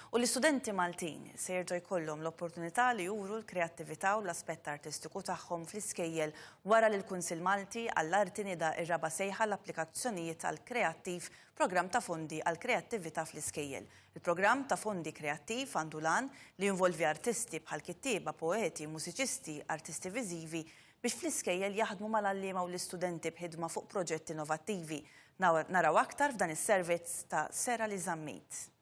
U l-istudenti Maltin se jerġa' jkollhom l-opportunità li juru l-kreattività u l-aspett artistiku tagħhom fl-iskejjel wara li l-Kunsill Malti għall-Arti nida r-raba' sejħa għall-applikazzjonijiet għal Kreattiv, programm ta' fondi għall-kreattività fl-iskejjel. Il-programm ta' fondi Kreattiv għandu l-għan li jinvolvi artisti bħal kittieba, poeti, mużiċisti, artisti viżivi biex fl-iskejjel jaħdmu mal-għalliema u l-istudenti b'ħidma fuq proġetti innovattivi. Naraw aktar f'dan is-servizz ta' Sera Li Żammit.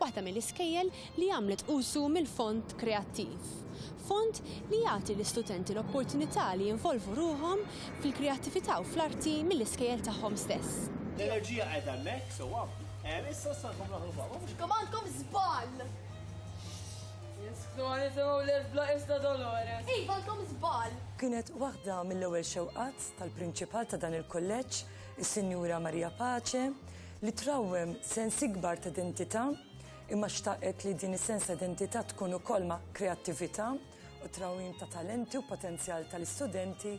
waħda mill-iskejjel li għamlet użu mill-Fond Kreattiv, fond li jagħti l-istudenti l-opportunità li jinvolvu ruħhom fil-kreattività u fl-arti mill-iskejjel tagħhom stess. L-enerġija qiegħda hemmhekk sewwa. Hemm issa stankom naħlu baba mhux. Kemm għandkom żball! Jinsfdoni semgħu lil bla isna Dolores. Iva għandkom żball! Kienet waħda mill-ewwel xewqat tal-Prinċipal ta' dan il-Kulleġġ, is-Sinjura Maria Pace, li trawwem sens ikbar ta' identità imma xtaqet li din is-sens ta' identità tkun ukoll ma' kreattività u trawwim ta' talenti u potenzjal tal-istudenti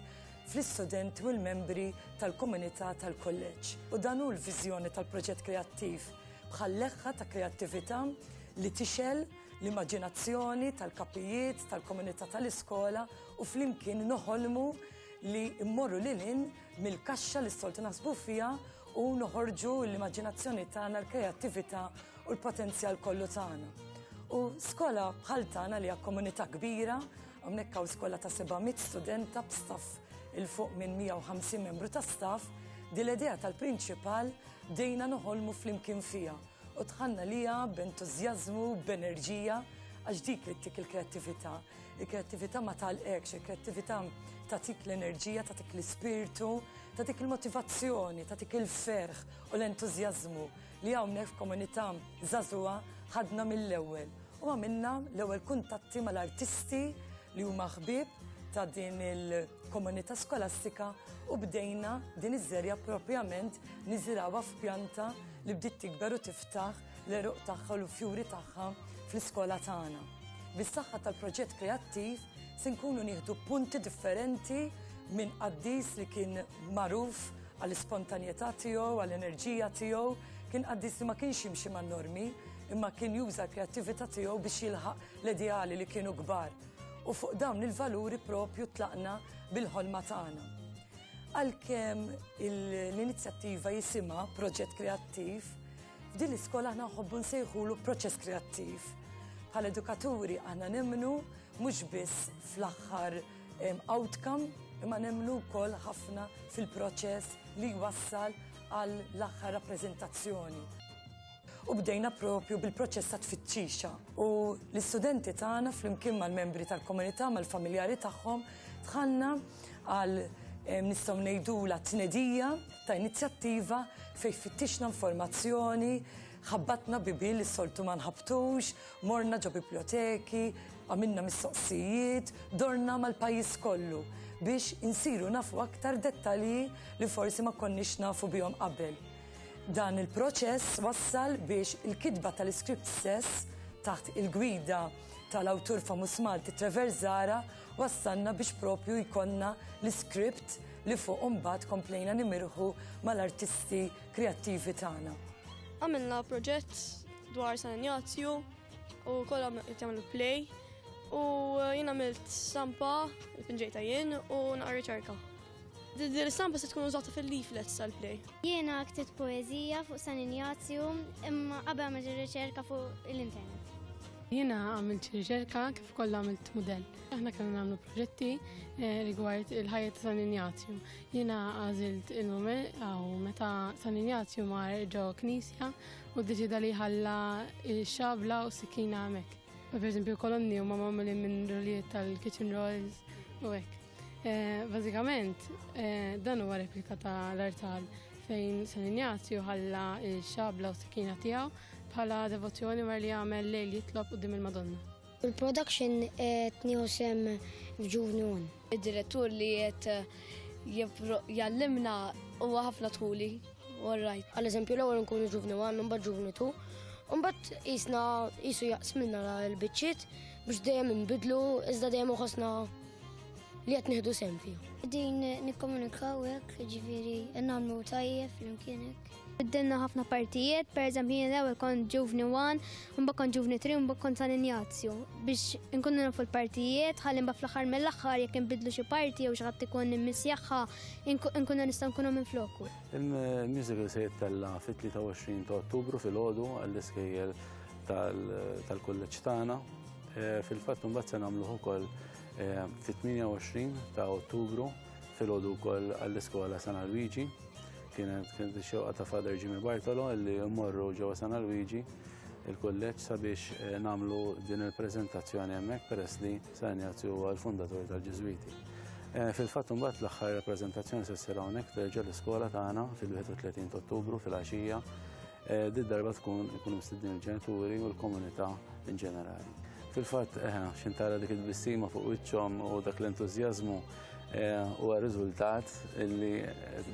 fl-istudenti u l-membri tal-komunità tal-kulleġġ. U dan hu l-viżjoni tal-proġett kreattiv bħal leħħa ta' kreattività li tixgħel l-immaġinazzjoni tal-kapijiet tal-komunità tal-iskola u flimkien noħolmu li mmorru lil hinn mill-kaxxa li s-soltu naħsbu fiha u noħorġu l-immaġinazzjoni tagħna, l-kreattività u l-potenzjal kollu tagħna. U skola bħal tagħna li hija komunità kbira, hawnhekk hawn skola ta' 700 studenta b'staff il fuq minn 150 membru ta' staff, din l-idea tal-prinċipal dejna noħolmu flimkien fiha u tħanna liha b'entużjażmu, b'enerġija, għax dik li tik il-kreattività. Il-kreattività ma talqekx, il-kreattività tatik l-enerġija, tatik l-ispirtu, tatik il-motivazzjoni, tatik il-ferħ u l-entużjażmu li hawnhekk f'komunità żagħżugħa ħadna mill-ewwel u għamilna l-ewwel kuntatti mal-artisti li huma ħbieb ta' din il-komunità skolastika u bdejna din iż-żerja propjament niżirawha f'pjanta li bdiet tikber u tiftaħ l-għeruq tagħha u l-fjuri tagħha fl-iskola tagħna. Bis-saħħa tal-proġett kreattiv se nkunu nieħdu punti differenti minn qaddis li kien magħruf għall-ispontanjetà tiegħu, għall-enerġija tiegħu, kien qaddis li ma kienx jimxi man-normi, imma kien juża l-kreattività tiegħu biex jilħaq l-ideali li kienu kbar. U fuq dawn il-valuri propju tlaqna bil-ħolma tagħna. Għalkemm l-inizjattiva jisimha proġett kreattiv, F'din l-iskola aħna nħobbu nsejħulu proċess kreattiv. Bħal edukaturi aħna nemmnu mhux biss fl-aħħar outcome imma nemmnu wkoll ħafna fil-proċess li jwassal għal l-aħħar rappreżentazzjoni. U bdejna propju bil-proċess ta' tfittxixa u l-istudenti tagħna flimkien mal-membri tal-komunità mal-familjari tagħhom tħanna għal nistgħu ngħidula tnedija ta' inizjattiva fejn fittixna informazzjoni, ħabbatna bibi li soltu ma nħabtux, morna ġo biblioteki, għamilna mistoqsijiet, dorna mal-pajjiż kollu biex insiru nafu aktar dettalji li forsi ma konniex nafu bihom qabel. Dan il-proċess wassal biex il-kitba tal-iskript stess taħt il-gwida tal-awtur famus Malti Trevor Zara wassalna biex propju jkollna l-iskript li fuq imbagħad komplejna nimirħu mal-artisti kreattivi tagħna. Għamilna proġett dwar San Ignazju u kollha qed jagħmlu play u jien għamilt stampa pinġejta jien u naqra riċerka. Din l-istampa se tkun użata fil-leaflets tal-play. Jiena ktibt poeżija fuq San Ignazju imma qabel għamilt riċerka fuq l-internet. Jiena għamilt riċerka kif Kollha għamilt mudell. Aħna kellna nagħmlu proġetti eh, rigward il-ħajja ta' San Ignazju. Jiena għażilt il-moment għaw meta San Ignazju mar ġo knisja u deċida li ħalla xabla u sikina hemmhekk. Per eżempju kolonni huma magħmulin minn rolijiet tal-kitchen rolls u hekk. Eh, bażikament, eh, dan huwa replika ta' l-artal fejn San Ignazju ħalla x-xabla u s-sikina tiegħu bħala devozzjoni mar li għamel lejl jitlob qudiem il-Madonna. Il-production qed nieħu sem f'ġuvni un. Id-direttur li qed eh, jallimna huwa ħafna tħuli. All right. Għal eżempju l-ewwel nkunu ġuvni wan, mbagħad ġuvni tu. Umbat jisna jisu jaqsmilna l-bicċiet biex dejjem nbidlu, iżda dejjem uħosna li qed nieħdu sehem fihom. Din nikkomunikaw hekk, jiġifieri nagħmlu tajjeb flimkien hekk. Biddilna ħafna partijiet, per eżempju jien l-ewwel kont ġuvni 1, mbagħad kont ġuvni 3, mbagħad kont San Injazju biex inkunu nafu l-partijiet, ħalli mbagħad fl-aħħar mill-aħħar jekk inbidlu xi parti jew xi ħadd ikun immissjaħħa nkunu nistgħu nkunu minn floku. Il-musical se jittella fit-23 ta' Ottubru fil-ħodu għall-iskejjel tal-kulleġġ tagħna Eh, fil-fatt mbagħad se nagħmluh ukoll eh, fit-28 ta' Ottubru fil-għodu wkoll għall-iskola San Luigi. Kienet kienet xewqa ta' Father Jimmy Bartolo li mmorru ġewwa San Luigi il-kulleġġ sabiex eh, nagħmlu din il-preżentazzjoni hemmhekk peress li San Ignazju huwa l-fundatur tal-Ġiżwiti. Fil-fatt mbagħad l-aħħar rappreżentazzjoni se ssir hawnhekk terġa' l-iskola tagħna fil-31 ta' Ottubru fil-għaxija Eh, Did darba tkun ikun mistedin il-ġenituri u l-komunità in ġenerali. Fil-fatt, eh, xintara dik il-bissima fuq wiċċhom u dak l-entużjażmu Eh, u riżultat li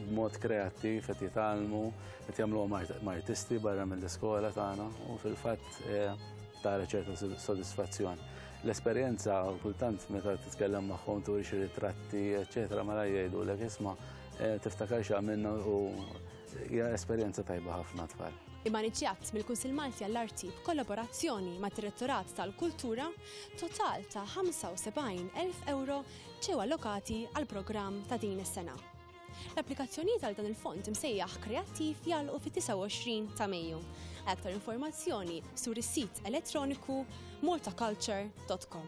b'mod kreattiv qed jitgħallmu qed jagħmluhom artisti barra mill-iskola tagħna u fil-fatt eh, tara ċerta sodisfazzjon. L-esperjenza kultant meta titkellem magħhom turi xi ritratti, eċetera, mara jgħidu l isma' eh, tiftakar x'għamilna u Hija esperjenza tajba ħafna tfal. Imaniġġjat mill-Kunsill Malti għall-Arti b'kollaborazzjoni ma' Direttorat tal-Kultura, total ta' 75,000 euro ġew allokati għall-programm ta' din is-sena. L-applikazzjonijiet għal dan il-fond imsejjaħ kreattiv jagħlqu fit-29 ta' Mejju. Aktar informazzjoni sur is-sit elettroniku mortaculture.com.